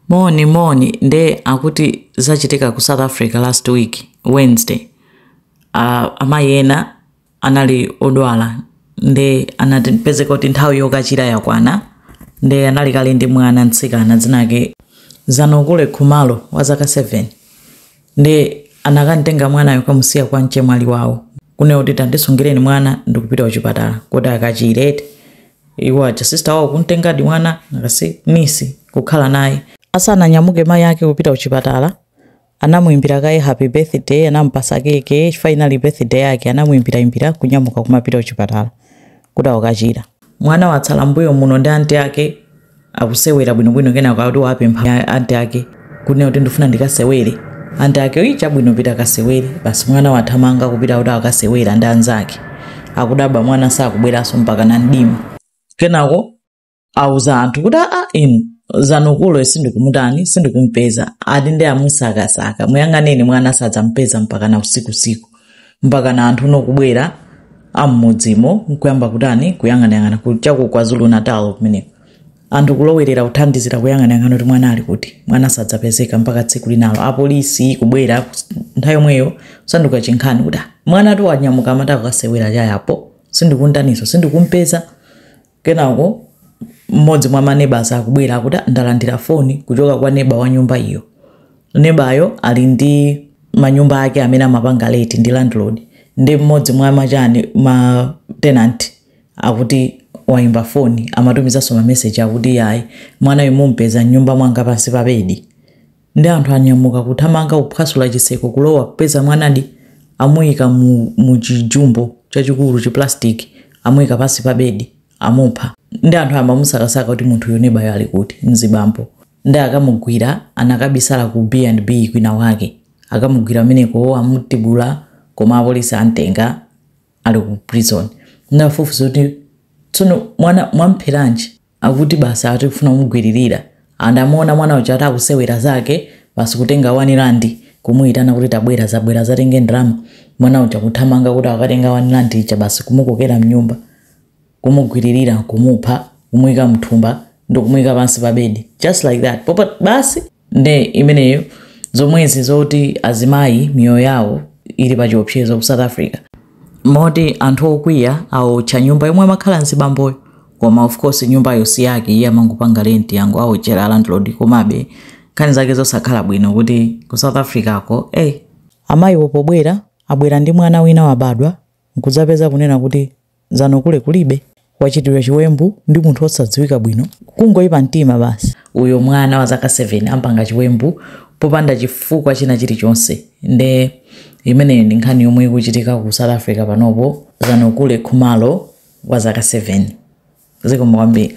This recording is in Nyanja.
Moni moni nde akuti zachitika ku South Africa last week Wednesday. Uh, amayi ena anali odwala nde anapezeka kuti nthawi yokachira yakwana nde anali kale ndi mwana mtsikana dzinake Zanokule Khumalo wa zaka 7 Ndiye anakamtenga mwanayo kukamusiya kwa mchemwali wawo kunena kuti tandisungireni mwana ndikupita kuchipatala kuti akachire eti iwo aja sister wawo kumtengadi mwana ngati niece kukhala naye Asananyamuke mayi ake kupita kuchipatala, anamuimbira kaye happy birthday, anamupasa keke chifukwa inali birthday yake, anamuimbiraimbira kunyamuka kumapita kuchipatala. kuti akukachira. Mwana watsala m'mbuyomuno ndi anti ake akusewera bwinobwino kenako akuti wapempha anti ake kunena kuti ndifuna ndikasewere anti ake uyi chabwino pita kasewere basi mwana wathamanga kupita kuti akasewera ndi anzake akudabwa mwana sakubweranso mpaka na mdima kenako auza anthu kuti aa inu Zanokule sindikumutani sindikumpeza ati ndi amusakasaka muyang'aneni mwana sadampeze mpaka na usikusiku mpaka na anthu nokubwera am'mudzimo nkuyamba kutani kuyang'anayang'ana ku- cha ku KwaZulu-Natal kumeneko anthu kulowerera kuthandizira kuyang'anayang'ana kuti mwana ali kuti mwana sadapezeke mpaka tsiku linalo apolisi kubwera kus- nthawi yomweyo kusanduka chinkhani kuti "Ah, mwana ati wanyamuka amati akasewera cha apo sindikuntaniso sindikumpeza Kenako mmodzi mwa ma neighbours akubwera akuti "Ah, ndalandira foni kuchoka kwa neba wa nyumba iyo. Nebayo ali ndi manyumba ake amene amapanga renti ndi landlord ndi mmodzi mwa machani ma tenant akuti waimba foni amatumizanso mameseji akuti iyayi mwanayu mumpeza m'nyumba mwanga pansi pa bedi Nde anthu anyamuka kuthamanga kuphwasula chitseko kulowa kupeza mwanadi amuyika mu mu chi jumbo chachikulu chi plastic amuyika pansi pa bedi amupha nde anthu ayamba kumusakasaka kuti munthuyu nebayo ali kuti? Mzibambo nde akamugwira anakabisala ku B and B kwina kwake akamugwira kumeneko amutibula koma apolisi amtenga ali ku prison nde afufuza kuti tsono mwana mwampheranji? akuti basi ati kufuna kumugwiririra anangomuona mwana uja atakusewera zake basi kutenga wani randi kumuyitana kuti tabwera dzabwera dzatenge ndalama mwana uja kuthamanga kuti akatenga wani randi ija basi kumukokera mnyumba kumugwiririra kumupha kumuyika mthumba ndikumuyika pansi pa bedi just like that popa basi nde imeneyo zomwezi zoti azimayi miyoyo yawo ili pa chiopsezo ku south africa moti anthu okwiya aotcha nyumba yomwe amakhala mzibamboyo koma of course nyumbayo si yake iye amangopanga renti angowotchera landlord komabe nkhani zake zosakhala bwino kuti ku south africa ko ey amayiwo pobwera abwera ndi mwana wina wabadwa nkudzapeza kunena kuti zanokule kulibe wachitiridwa chiwembu ndi munthu osadziwika bwino kungoipa mtima basi uyo mwana wa zaka 7 ampanga chiwembu popanda chifukwa china chilichonse nde imeneyo ndi nkhani yomwe ikuchitika ku south africa panopo zanokule khumalo wa zaka 7 zikomo kwambiri